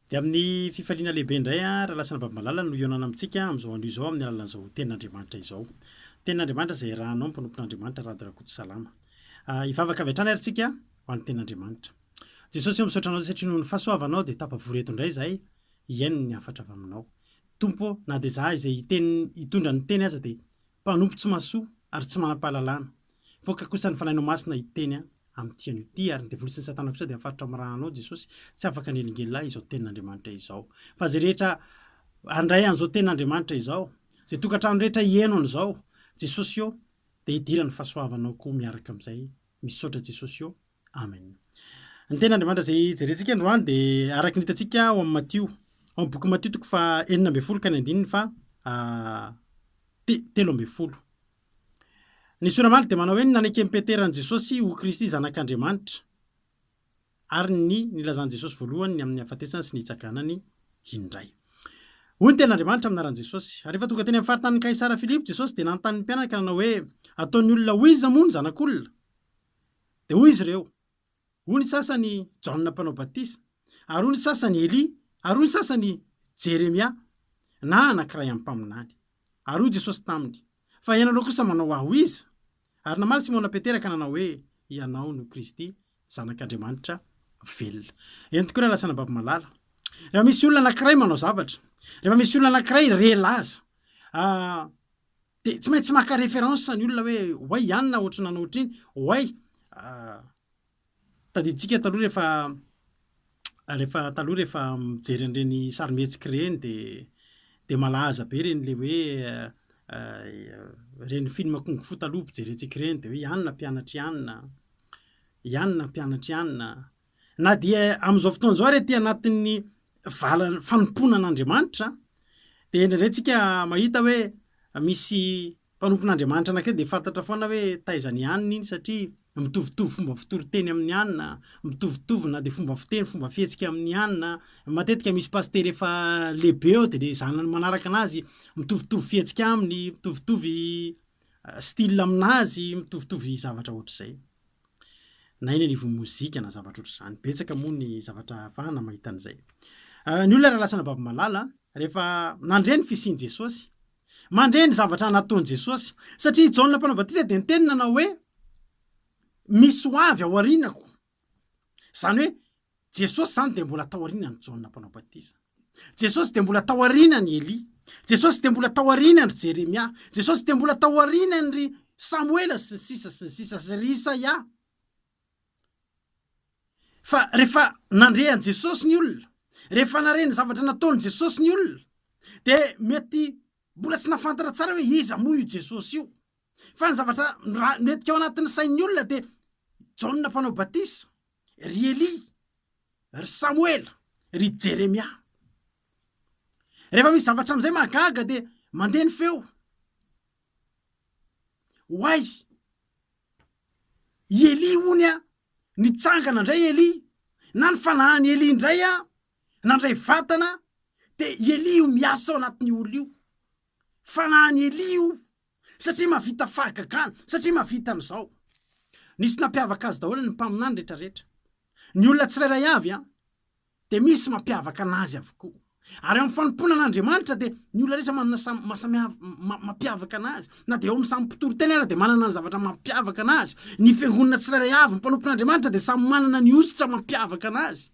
Dia amin'ny fifaliana lehibe indray aho, Rahalahitsy Rababimalala, no hihaonana amintsika amin'izao andro izao amin'ny alalan'izao Tenin'Andriamanitra izao. Tenin'Andriamanitra izay irahanao ny mpanompon'Andriamanitra Rado Rakotosalama. Hivavaka avy hatrany ary isika ho an'ny Tenin'Andriamanitra. Jesosy ô, misaotra anao satria noho ny fahasoavanao dia tafavory eto indray izahay hihaino ny hafatra avy aminao. Tompo ô, na dia izahay izay hiteny hitondra ny teny aza dia Mpanompo tsy mahasoa ary tsy manam-pahalalana. Voaka kosa ny Fanahinao Masina hiteny amin'ity anio ity. Ary ny devoly sy ny satana kosa dia mifaritra amin'ny ra Anao Jesosy. Tsy afaka ny elingelilay izao tenin'Andriamanitra izao. Fa izay rehetra handray an'izao tenin'Andriamanitra izao, izay tokantrano rehetra hihaino an'izao Jesosy ô, dia hidirany fahasoavanao koa miaraka amin'izay. Misaotra Jesosy ô. Amen. Ny tena Andriamanitra izay jerentsika androany dia araka ny hitantsika ao amin'ny Matio. Ao amin'ny boky Matio toko fa enina ambin'ny folo ka ny andininy fa te, telo ambin'ny folo. Ny soramaly dia manao hoe ny naneken'i Petera an'i Jesosy ho Kristy zanak'Andriamanitra ary ny nilazan'i Jesosy voalohany ny amin'ny hafatesany sy ny hitsaganany indray. Hoy ny ten'Andriamanitra amin'ny anaran'i Jesosy. Ary rehefa tonga teny amin'ny faritanin'i Kaisara Filipo Jesosy dia nanontany ny mpianany ka nanao hoe ataon'ny olona ho iza moa ny zanak'olona? Dia hoy izy ireo, Hoy ny sasany, Jaona Mpanao Batisa, ary hoy ny sasany, Elia, ary hoy ny sasany, Jeremia, na anankiray amin'ny mpaminany. Ary hoy Jesosy taminy, Fa ianareo kosa manao ahy ho iza? Ary namaly Simona Petera ka nanao hoe, Ianao no Kristy, Zanak'Andriamanitra velona. Eny tokoa, ry alasan'ny Baba malala. Rehefa misy olona anankiray manao zavatra, rehefa misy olona anankiray re laza, Dia tsy maintsy maka référence ny olona hoe oay i anona ohatry ny nanao ohatry iny, oay tadidintsika taloha rehefa rehefa taloha rehefa mijery an'ireny sarimihetsika ireny dia dia malaza be ireny ilay hoe ireny film kung fu taloha mpijery antsika ireny dia hoe i anona mpianatr'i anona, i anona mpianatr'i anona. Na dia amin'izao fotoana izao ary aty anatin'ny vala fanompoana an'Andriamanitra dia indraindray tsika mahita hoe misy mpanompon'Andriamanitra anankiray dia fantatra foana hoe taiza ny aniny iny satria mitovitovy fomba fitoriteny amin'ny anina, mitovitovy na dia fomba fiteny, fomba fihetsika amin'ny anina. Matetika misy pasitera efa lehibe eo dia ilay zanany manaraka anazy mitovitovy fihetsika aminy, mitovitovy style aminazy, mitovitovy zavatra ohatr'izay. na eny anivon'ny mozika na zavatra ohatr'izany. Betsaka moa ny zavatra ahafahana mahita an'izay. Ah, ny olona raha lasana baby malala rehefa nandre ny fisian'i Jesosy, mandre ny zavatra nataon'i Jesosy. Satria i Jaona mpanao batisa dia niteny nanao hoe misy ho avy ao aorianako. Izany hoe Jesosy izany dia mbola tao aorianan'i Jaona Mpanao Batisa. Jesosy dia mbola tao aorianan'i Elia. Jesosy dia mbola tao aorianan'i Jeremia. Jesosy dia mbola tao aorianan'i Samoela sy ny sisa sy ny sisa sy ry Isaia. Fa rehefa nandre an'i Jesosy ny olona, rehefa nare ny zavatra nataon'i Jesosy ny olona, dia mety mbola tsy nafantatra tsara hoe iza moa io Jesosy io. Fa ny zavatra mety ao anatin'ny sain'ny olona dia Jaona Mpanao Batisa. ry Elia, ry Samoela, ry Jeremia. Rehefa misy zavatra amin'izay mahagaga dia mandeha ny feo. Oay! I Elia ony a, nitsangana indray Elia, na ny fanahan'i Elia indray a, nandray vatana, dia i Elia io miasa ao anatin'io olona io. Fanahan'i Elia io satria mahavita fahagagana, satria mahavita an'izao. Nisy nampiavaka azy daholo ny mpaminany rehetrarehetra. Ny olona tsirairay avy an, dia misy mampiavaka an'azy avokoa. Ary ao amin'ny fanompoana an'Andriamanitra dia ny olona rehetra manana samy maha-samihav mampiavaka an'azy. Na dia ao amin'ny samy mpitory teny ara dia manana ny zavatra mampiavaka an'azy. Ny fiangonana tsirairay avy, ny mpanompon'Andriamanitra dia samy manana ny hosotra mampiavaka an'azy.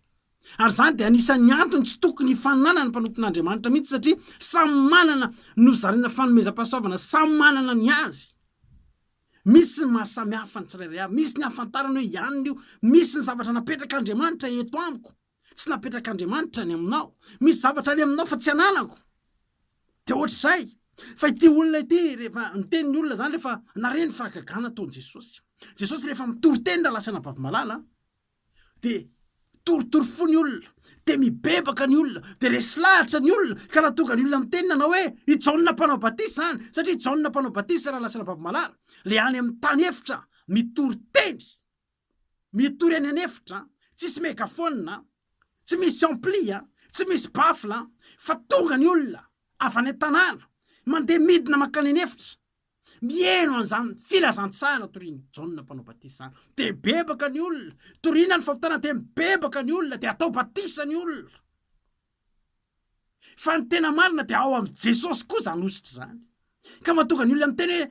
Ary izany dia anisan'ny antony tsy tokony hifaninanan'ny mpanompon'Andriamanitra mihitsy satria samy manana nozaraina fanomezam-pahasoavana, samy manana ny azy. Misy ny maha samy hafa ny tsirairay avy, misy ny ahafantarana hoe ianona io, misy ny zavatra napetrak'Andriamanitra eto amiko, tsy napetrak'Andriamanitra any aminao, misy zavatra any aminao fa tsy ananako. Dia ohatr'izay. Fa ity olona ity rehefa niteny ny olona izany rehefa nare ny fahagagana ataon'i Jesosy. Jesosy rehefa mitory teny raha lasan'Abavy Malala, de torotoro fo ny olona de mibebaka ny olona de resy lahatra ny olona ka raha tonga ny olona miteny nanao hoe i jaona mpanao batisa zany satria jaona mpanao batisa raha lasana baby malala le any amin'ny tany efitra mitory teny mitory any an' efitra tsisy megafona tsy misy ampli a tsy misy bafla fa tonga ny olona avy any an-tanàna mandeha midina mankany an' efitra Mihaino an'izany filazantsara torian'i Jaona Mpanao Batisa izany, dia bebaka ny olona. Toriana ny fahotana, dia mibebaka ny olona, dia atao batisa ny olona. Fa ny tena marina dia ao amin'i Jesosy koa izany hosotra izany. Ka mahatonga ny olona miteny hoe,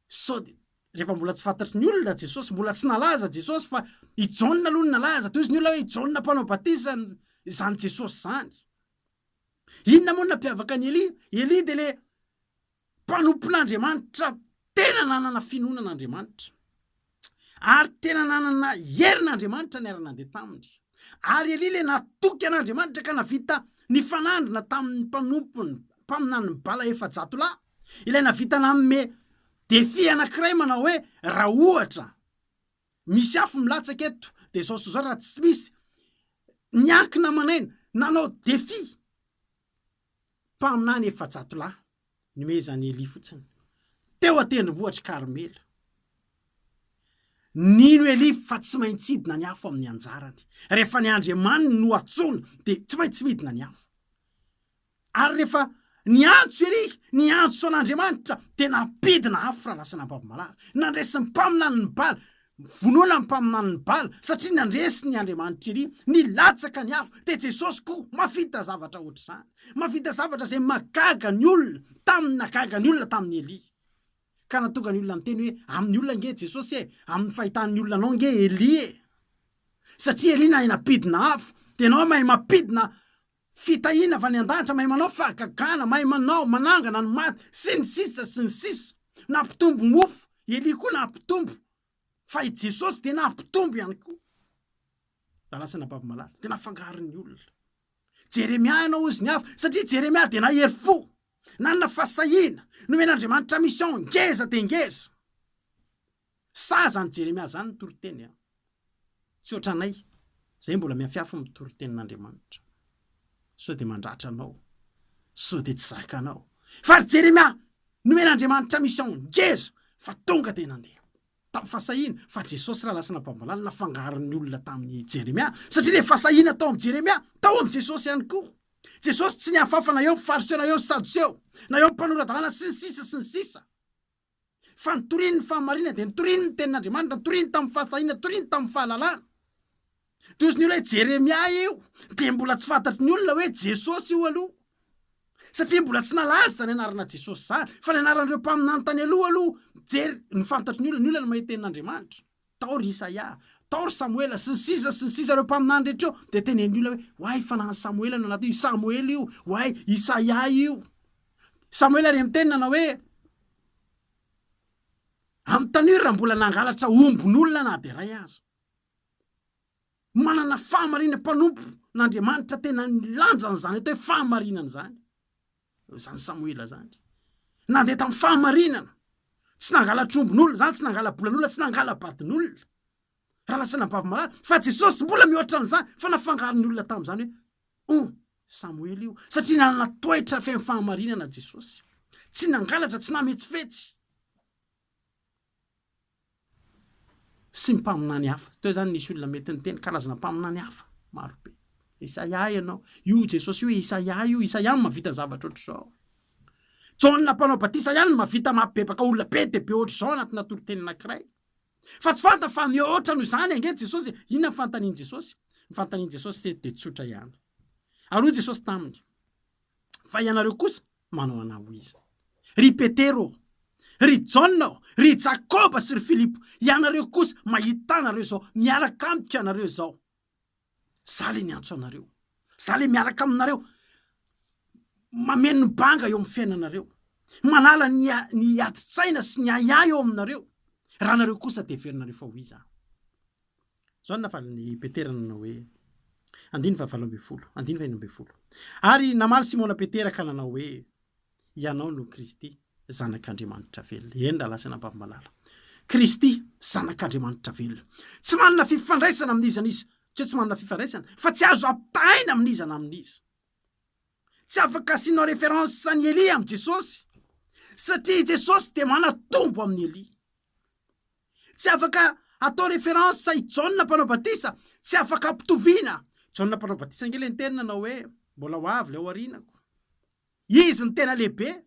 sao dia rehefa mbola tsy fantatry ny olona Jesosy, mbola tsy nalaza Jesosy fa i Jaona aloha no nalaza, tohizo ny olona hoe i Jaona Mpanao Batisa izany Jesosy izany. Inona moa no nampiavaka an'i Elia? Elia dia ilay mpanompon'Andriamanitra tena nanana finoana an'Andriamanitra, ary tena nanana herin'Andriamanitra niara-nandeha taminy. Ary Elia ilay natoky an'Andriamanitra ka navita nifanandrina tamin'ny mpanompony, mpaminanin'i Bala efajato lahy, ilay navita nanome défi anankiray manao hoe, raha ohatra misy afo milatsaka eto dia izao sy izao, raha tsy misy, niankina aman'aina, nanao défi. Mpaminany efajato lahy nomezan'i Elia fotsiny, teo an-tendrombohitr'i Karmela. Nino Elia fa tsy maintsy hidina ny afo amin'ny anjarany. Rehefa ny Andriamaniny no antsoina, dia tsy maintsy midina ny afo. Ary rehefa niantso Elia, niantso an'Andriamanitra, dia nampidina afo raha lasa nampavy malala. Nandresy ny mpaminany ny bala. Vonoina ny mpaminany ny bala satria nandresy ny Andriamanitra ery, nilatsaka ny afo dia Jesosy koa mahavita zavatra ohatr'izany, mahavita zavatra izay mahagaga ny olona tamin'ny nahagaga ny olona tamin'i Elia ka nahatonga ny olona niteny hoe amin'ny olona ange Jesosy e, amin'ny fahitan'ny olona anao ange Elia e, satria Elia nahay nampidina afo dia ianao mahay mampidina Fitahiana avy any an-danitra mahay manao fahagagana, mahay manao, manangana ny maty, sy ny sisa sy ny sisa. Nampitombo mofo, Elia koa nampitombo, fa i Jesosy dia nampitombo ihany koa. Raha lasa anabavy malala, dia nafangaro ny olona. Jeremia hanao ozy ny hafa, satria Jeremia dia nahery fo, nanana fahasahiana, nomen'Andriamanitra mission ngeza dia ngeza. Sa zany Jeremia zany no toriteny an? Tsy otranay, zay mbola miafiafy ny toritenin'Andriamanitra. Sao dia mandratra anao, sao dia tsy zaka anao. Fa ry Jeremia, nomen'Andriamanitra mission ngeza fa tonga dia nandeha. Tamin'ny fahasahiana, fa Jesosy raha lasana bambalala nafangaron'ny olona tamin'i Jeremia, satria ilay fahasahiana tao amin'i Jeremia, tao amin'i Jesosy ihany koa. Jesosy tsy niafafa na eo amin'ny Fariseo na eo amin'ny Sadoseo, na eo amin'ny mpanora-dalàna sy ny sisa sy ny sisa. Fa notoriny ny fahamarinana, dia notoriny ny tenin'Andriamanitra, notoriny tamin'ny fahasahiana, notoriny tamin'ny fahalalana. Dia ozy ny olona hoe Jeremia io, dia mbola tsy fantatry ny olona hoe Jesosy io aloha. Satria mbola tsy nalaza izany anarana Jesosy izany. Fa ny anaran'ireo mpaminany tany aloha aloha, mijery, no fantatry ny olona. Ny olona no mahita tenin'Andriamanitra. Tao ry Isaia, tao ry Samoela, sy ny sisa sy ny sisa ireo mpaminany rehetra eo, dia teneniny olona hoe, Oay, fananan'i Samoela no anaty io, i Samoela io, oay, Isaia io. Samoela re miteny nanao hoe, Amin'ny tanora raha mbola nangalatra ombin'olona na dia iray aza. Manana fahamarinana mpanompo n'Andriamanitra tena nilanja an'izany atao hoe fahamarinana izany. Izany Samoela izany. Nandeha tamin'ny fahamarinana. Tsy nangala trombon'olona izany, tsy nangala bolan'olona, tsy nangala batin'olona. Raha lasa anabavy malala, fa Jesosy mbola mihoatra an'izany, fa nafangaron' ny olona tamin'izany hoe oh, Samoela io, satria nanana toetra feno fahamarinana Jesosy. Tsy nangalatra, tsy nametsifetsy. sy ny mpaminany hafa. Teo izany nisy olona mety niteny karazana mpaminany hafa maro be. Isaia ianao. Io Jesosy io Isaia io. Isaia no mahavita zavatra ohatr'izao. Jaona mpanao batisa ihany no mahavita mampibebaka olona be dia be ohatr'izao anatinà toriteny anankiray. Fa tsy fantany fa mihoatra noho izany ange Jesosy. Inona no fanontanian'i Jesosy? Ny fanontanian'i Jesosy dia tsotra ihany. Ary hoy Jesosy taminy, Fa ianareo kosa, Manao anao ho iza? Ry Petera ô! Ry Jaona ô! Ry Jakoba sy ry Filipo! Ianareo kosa mahita ahy nareo izao, miaraka amiko ianareo izao. Za le niantso anareo. Za le miaraka aminareo, mameno ny banga eo amin'ny fiainanareo, manala ny ny adin-tsaina sy ny ahiahy eo aminareo, raha nareo kosa de heverinareo fa ho iza aho? Izao no navalin'i Petera nanao hoe, andininy fahavalo ambin'ny folo, andininy faheno ambin'ny folo. Ary namaly Simona Petera ka nanao hoe, Ianao no Kristy, Zanak'Andriamanitra velona. Eny, rahalahy sy anabavy malala. Kristy, Zanak'Andriamanitra velona. Tsy manana fifandraisana amin'iza n'iza. Tsy hoe tsy manana fifandraisana, fa tsy azo ampitahaina amin'iza na amin'iza. Tsy afaka asianao référence an'i Elia amin'i Jesosy, satria i Jesosy dia manatombo amin'i Elia. Tsy afaka atao reference i Jaona mpanao batisa, tsy afaka ampitoviana. Jaona mpanao batisa ange le niteny nanao hoe mbola ho avy le ao arinako. Izy no tena lehibe.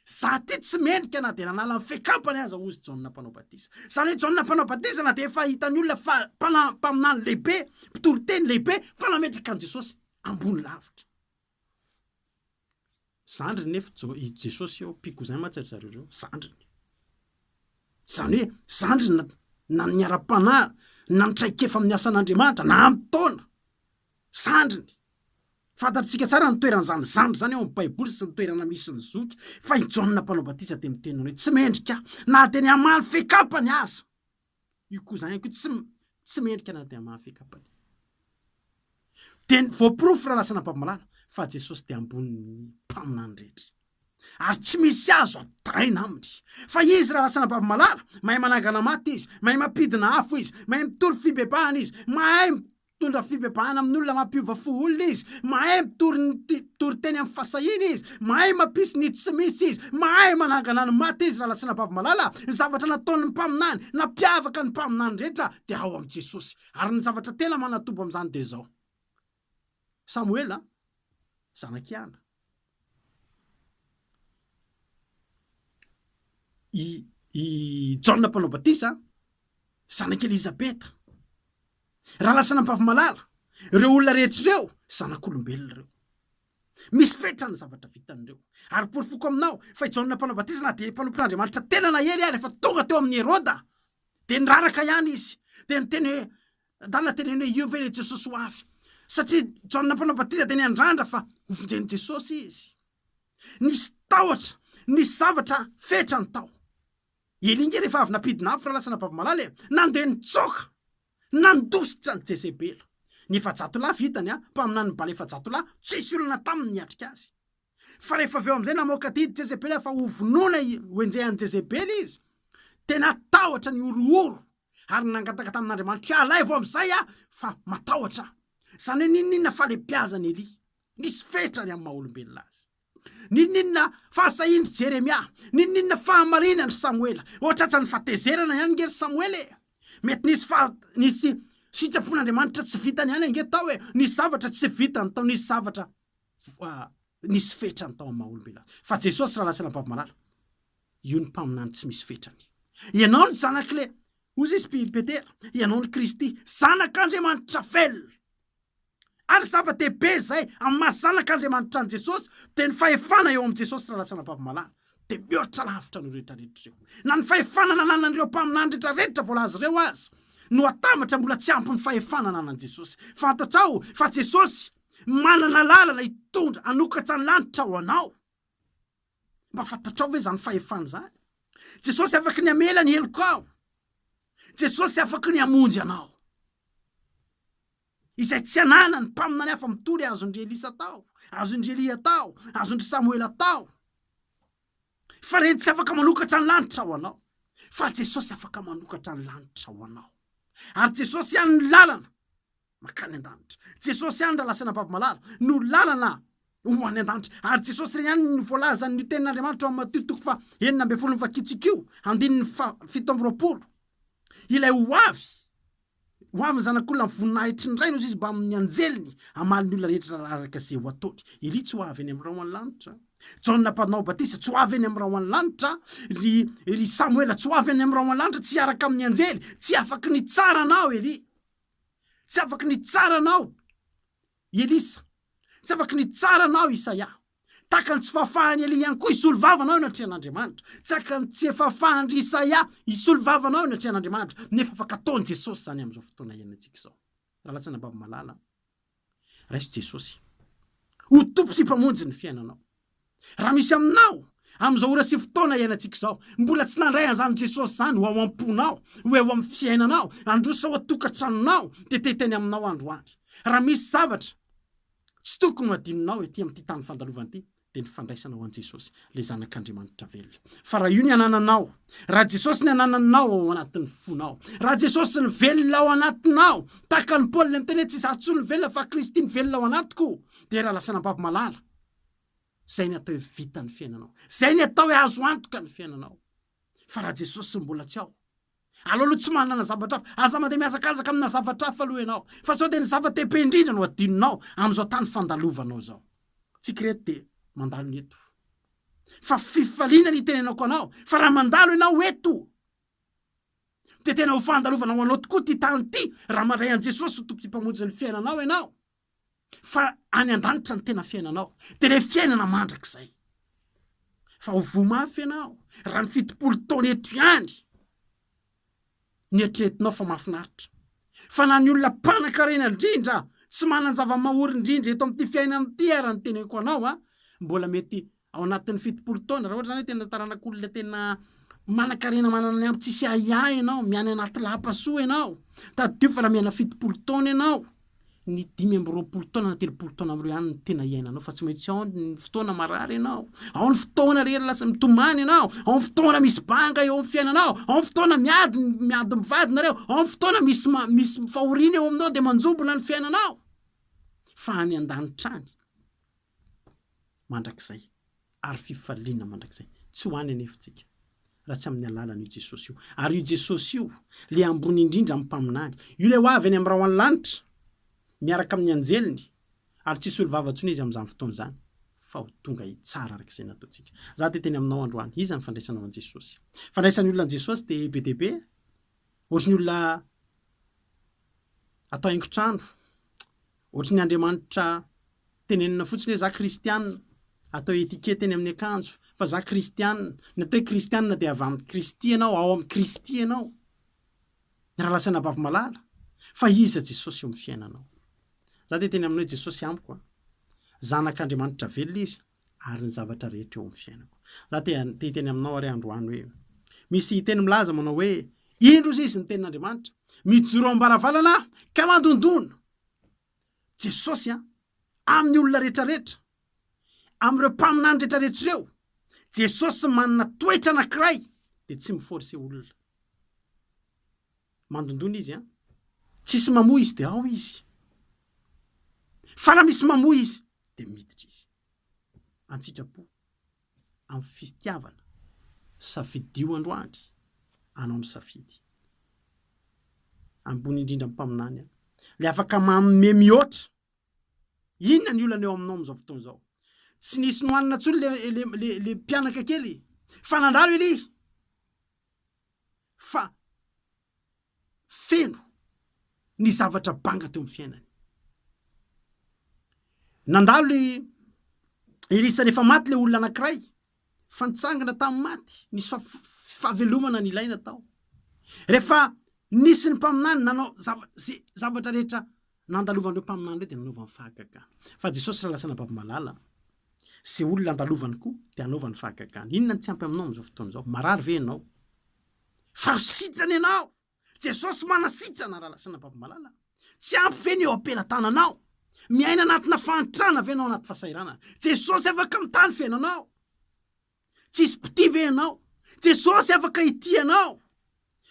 Za ty tsy mendrika na dia nanala ny fekapany aza ozy Jaona mpanao batisa. Zany hoe Jaona mpanao batisa na dia efa hitan'ny olona fa mpana mpaminany lehibe, mpitoriteny lehibe fa nametraka an'i Jesosy ambony lavitra. Zandriny nefa i Jesosy eo, mpikouzin mantsy ry zareo reo, zandriny. Izany hoe zandriny na ny ara-panahy na ny traikefa amin'ny asan'Andriamanitra na amin'ny taona, zandriny. Fantatsika tsara ny toeran'izany zandry izany eo amin'ny Baiboly sy ny toerana misy ny zoky fa i Jaona mpanao batisa dia miteny hoe tsy mendrika aho na dia ny hamaly fekapany aza. Io cousin io tsy tsy mendrika na dia mafy kapany. Dia ny voaporofo raha lasa nampamalanao fa Jesosy dia ambonin'ny mpaminany rehetra. Ary tsy misy azo ataraina aminy. Fa izy raha lasa nampamalanao, mahay manangana maty izy, mahay mampidina afo izy, mahay mitory fibebahana izy, mahay Mitondra fibebahana amin'ny olona mampiova fo olona izy, mahay mitory ny mpitory teny amin'ny fahasahiana izy, mahay mampisy ny tsy misy izy, mahay manangana ny maty izy raha nasiana vavimalala, ny zavatra nataon'ny mpaminany, nampiavaka ny mpaminany rehetra dia ao amin'i Jesosy. Ary ny zavatra tena manatobo amin'izany dia izao. Samoela, zanak'i Ana. i i Jaona mpanao batisa zanak'i Elizabeta, raha lasa anabavy-malala, ireo olona rehetra ireo zanak'olombelona ireo. Misy fetra ny zavatra vitan'ireo. Ary porofoko aminao fa i Jaona mpanao batisa na dia mpanompon'Andriamanitra tena nahery aza, rehefa tonga teo amin'i Heroda dia niraraka ihany izy, dia niteny hoe Adala dia teneno hoe io ve ilay Jesosy ho avy? Satria Jaona Mpanao Batisa dia niandrandra fa hovonjen'i Jesosy izy. Nisy tahotra, nisy zavatra fetrany tao. I Elia nge rehefa avy nampidina afo raha lasa nababy malala e! Nandeha nitsoaka, nandositra an'i Jezebela. Ny efajatolahy vitany an, mpaminanin'i Bala efajatolahy, tsisy olona taminy niatrika azy. Fa rehefa avy eo amin'izay namoaka didy Jezebely aho fa hovonoina ho enjehan'i Jezebely izy, dia natahotra ny horohoro ary nangataka tamin'Andriamanitro hoe, Alaivo amin'izay aho fa matahotra aho. Izany hoe n'inon'inona falebiazan'i Elia, nisy fetrany amin'ny maha-olombelona azy. N'inon'inona fahasahian'i Jeremia, n'inon'inona fahamarinan'i Samoela. Hoatratran'ny fatezerana ihany ange ry Samoela e! Mety nisy fa nisy sitrapon'Andriamanitra tsy vitany ihany ange tao e! Nisy zavatra tsy vitany tao, nisy zavatra nisy fetrany tao amin'ny maha-olombelona azy. Fa Jesosy raha lasana babo malala, io ny mpaminany tsy misy fetrany. Ianao ny zanak'le, hozy izy Petera, ianao ny Kristy, zanak'Andriamanitra velona. Ary zava-dehibe izay amin'ny maha zanak'Andriamanitra an'i Jesosy dia ny fahefana eo amin'i Jesosy raha lasana babo malala dia mihoatra lavitra ny rehetra rehetra ireo. Na ny fahefana nananan'ireo mpaminany rehetra rehetra voalaza ireo aza no atambatra mbola tsy ampy ny fahefana nanan'i Jesosy. Fantatrao fa Jesosy Manana lalana hitondra hanokatra ny lanitra ho anao. Mba fantatrao ve izany fahefana izany? Jesosy afaka ny hamela ny helokao. Jesosy afaka ny hamonjy anao. Izay tsy ananany mpaminany hafa mitory azon-dry Elisa tao, azon-dry Elia tao, azon-dry Samoela tao. Fa ireny tsy afaka manokatra ny lanitra ho anao. Fa Jesosy afaka manokatra ny lanitra ho anao. Ary Jesosy ihany ny lalana. makany an-danitra. Jesosy ihany ra lasaina babo malala no lalana ho any an-danitra ary Jesosy re ihany no voalazan' ny tenin' Andriamanitra ao amin' Matio toko faha enina ambin'ny folo ny vakitsikio andininy faha fito amby roapolo ilay ho avy ho avy ny zanak' olona ny voninahitry ny Ray no izy mbamin' ny anjeliny hamaly ny olona rehetra araraka izay ho ataony Elia tsy ho avy eny amin' ny ra ho any lanitra Jaona mpanao batisa tsy ho avy eny amin' ny ra ho any lanitra ry ry Samoela tsy ho avy eny amin' ny ra ho any lanitra tsy hiaraka amin' ny anjely tsy afaky ny hitsara anao Elia Tsy afaky nitsara anao i Elisa. Tsy afaky nitsara anao i Isaia. Tahaka ny tsy fahafahan'i Elia ihany koa hisolo vava anao eny an-trehan'Andriamanitra. Tsy aka ny tsy efa fahan-dry Isaia hisolo vava anao eny an-trehan'Andriamanitra, nefa afaka ataon'i Jesosy izany amin'izao fotoana iainantsika izao. Raha latsana am-bava malala, Raiso Jesosy ho Tompo sy Mpamonjy ny fiainanao. Raha misy aminao amin'izao ora sy fotoana iainantsika izao mbola tsy nandray an'izany Jesosy izany ho ao am-ponao, ho eo amin'ny fiainanao, handroso ao an-tokantranonao, dia te-hiteny aminao androany. Raha misy zavatra tsy tokony ho adinonao ety amin'ity tany fandalovan'ity, dia ny fandraisanao an'i Jesosy, ilay Zanak'Andriamanitra velona. Fa raha io ny anananao, raha Jesosy ny anananao ao anatin'ny fonao, raha Jesosy ny velona ao anatinao, tahaka ny Paoly niteny hoe tsy izaho intsony ny velona fa Kristy ny velona ao anatiko, dia raha lasa anabavy malala, izay ny atao hoe vita ny fiainanao, izay ny atao hoe azo antoka ny fiainanao. Fa raha Jesosy mbola tsy ao, Aleo aloha tsy manana zavatra hafa. Aza mandeha mihazakazaka amina zavatra hafa aloha ianao, fa sao dia ny zava-dehibe indrindra no adinonao amin'izao tany fandalovanao izao. Tsy krety dia mandalo ny eto. Fa fifaliana ny itenenako anao fa raha mandalo ianao eto, dia tena ho fandalovana ho anao tokoa ity tany ity, raha mandray an'i Jesosy ho Tompo sy Mpamonjy ny fiainanao ianao. fa any an-danitra ny tena fiainanao, dia ilay fiainana mandrakizay. Fa ho voa mafy ianao raha ny fitopolo taona eto ihany no eritreretinao fa mahafinaritra. Fa na ny olona mpanankarena indrindra, tsy manan-java-mahaory indrindra eto amin'ity fiainana ity ara ny teneniko anao, mbola mety Ao anatin'ny fitopolo taona, raha ohatra zany hoe tena taranak'olona tena manan-karena manana ny ampy tsisy ahiahy ianao, miany anaty lapa soa ianao, tadidio fa raha miaina fitopolo taona ianao, ny dimy amby roapolo taona na telopolo taona amin'ireo ihany no tena iainanao fa tsy maintsy ao ny fotoana marary ianao, ao ny fotoana rehefa lasa mitomany ianao, ao ny fotoana misy banga eo amin'ny fiainanao, ao ny fotoana miady miady mivady nareo, ao ny fotoana misy ma- misy fahoriana eo aminao dia manjombona ny fiainanao fa any an-danitra any. mandrakizay ary fifaliana mandrakizay. Tsy ho any anefa tsika raha tsy amin'ny alalan'io Jesosy io. Ary io Jesosy io, ilay ambony indrindra amin'ny mpaminany, io ilay ho avy any amin'ny rahon'ny lanitra miaraka amin'ny anjeliny, ary tsy hisolo vava intsony izy amin'izany fotoana izany, fa ho tonga hitsara araka izay nataontsika. Izaho dia teny aminao androany. Iza ny fandraisanao an'i Jesosy? Ny fandraisan'ny olona an'i Jesosy dia be dia be, ohatry ny olona atao haingon-trano, Ohatry ny Andriamanitra tenenina fotsiny hoe za kristianina, atao etiquette eny amin'ny akanjo fa za kristianina, ny atao hoe kristianina dia avy amin'i Kristy ianao, ao amin'i Kristy ianao, raha lasa anabavy-malala, fa iza Jesosy eo amin'ny fiainanao? Za dia teny amin'ny hoe Jesosy amiko an! Zanak'Andriamanitra velona izy. ary ny zavatra rehetra eo amin'ny fiainako. Za te hiteny aminao ary androany hoe, misy teny milaza manao hoe, indro izy izy ny tenin'Andriamanitra, mijoro am-baravarana aho ka mandondona. Jesosy an, amin'ny olona rehetrarehetra, amin'ireo mpaminany rehetrarehetra ireo, Jesosy manana toetra anankiray dia tsy mi-forcer olona. Mandondona izy an! Tsisy mamoa izy dia ao izy. Fa raha misy mamoa izy dia miditra izy. An-tsitrapo, amin'ny fitiavana, safidio androany anao ny safidy. Ambony indrindra amin'ny Mpaminany an! Ilay afaka manome mihoatra. Inona ny olana eo aminao amin'izao fotoana izao? Tsy nisy nohanina intsony ilay ilay ilay ilay mpianaka kely fa nandalo elia. fa feno ny zavatra banga teo amin'ny fiainany. Nandalo i Elisa rehefa maty ilay olona anankiray, fa nitsangana tamin'ny maty, nisy fa- fahavelomana ny ilaina tao. Rehefa nisy ny mpaminany nanao zava- ze zavatra rehetra Nandalovan'ireo mpaminany ireo dia nanaovany fahagagana. Fa Jesosy raha lasa anabavy malala, izay olona andalovany koa dia hanaovany fahagagana. Inona no tsy ampy aminao amin'izao fotoana izao? Marary ve ianao? Fahasitrana ianao! Jesosy manasitrana raha lasa anabavy malala. Tsy ampy ve ny eo am-pelatananao? Miaina anatina fahantrana ve ianao anaty fahasahiranana? Jesosy afaka mitany fiainanao. Tsisy mpitia ve ianao? Jesosy afaka hitia anao.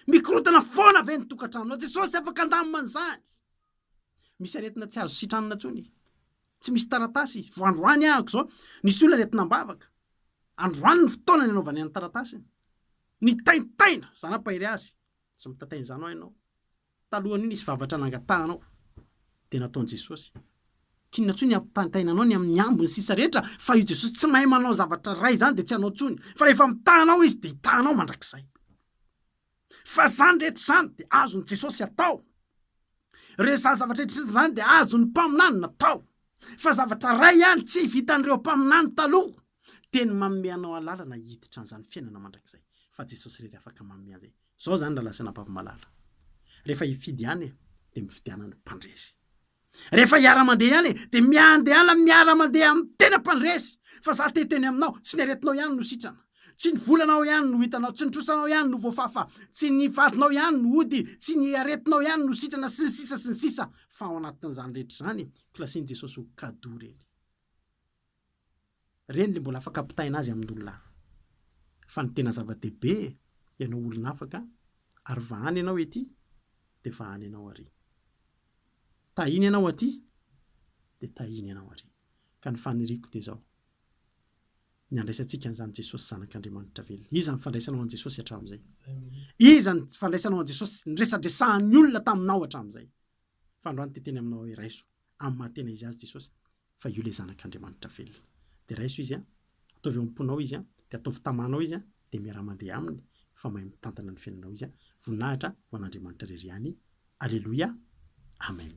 Mikorotana foana ve ny tokantranonao? Jesosy afaka handamina an'izany. Misy aretina tsy azo sitranina intsony. Tsy misy taratasy izy. Vao androany ahako izao, nisy olona aretina am-bavaka. Androany ny fotoana nanaovany an'ny taratasiny. Nitaintaina, zana-pahery azy. Tsy mitantaina izany ho'a ianao. Talohan'io nisy vavatra nangatahanao, dia nataon'i Jesosy. K'inona intsony ny hampitaintaina anao ny amin'ny ambiny sisa rehetra, fa io Jesosy tsy mahay manao zavatra iray izany dia tsy hanao intsony, fa rehefa mitaha anao Izy dia hitaha anao mandrakizay. Fa izany rehetra izany dia azon'i Jesosy atao. Ireo izany zavatra rehetra izany dia azon'ny mpaminany natao. Fa zavatra iray ihany tsy vitan'ireo mpaminany taloha, dia ny manome anao alalana hiditra an'izany fiainana mandrakizay. Fa Jesosy irery afaka manome an'izay. Zao zany raha lazaina Baba Malala. Rehefa hifidy ihany e, dia mifidiana ny mpandresy. Rehefa hiara mandeha ihany e, dia miandehana miara mandeha amin'ny tena mpandresy. Fa za te hiteny aminao, tsy ny aretinao ihany no sitrana. Tsy ny volanao ihany no hitanao, tsy ny trosanao ihany no voafafa, tsy ny vadinao ihany no hody, tsy ny aretinao ihany no sitrana sy ny sisa sy ny sisa. Fa ao anatin'izany rehetra izany, klasian'i Jesosy ho cadeau ireny. Ireny ilay mbola afaka ampitaina azy amin'olona hafa. Fa ny tena zava-dehibe, ianao olona afaka, ary vahana ianao ety, dia vahana ianao arỳ. Tahiana ianao atỳ, dia tahiana ianao arỳ. Ka ny faniriako dia izao, ny handraisantsika an'izany Jesosy Zanak'Andriamanitra velona. Iza ny fandraisanao an'i Jesosy hatramin'izay? Iza ny fandraisanao an'i Jesosy niresadresahan'ny olona taminao hatramin'izay? Fa androany te-hiteny aminao aho hoe, Raiso. Amin'ny maha tena izy azy Jesosy fa io ilay Zanak'Andriamanitra velona. Dia raiso izy an! Ataovy eo am-ponao izy an! Dia ataovy tamanao izy an! Dia miaraha mandeha aminy fa mahay mitantana ny fiainanao izy an! Voninahitra ho an'Andriamanitra irery ihany! Aleloia! Amen!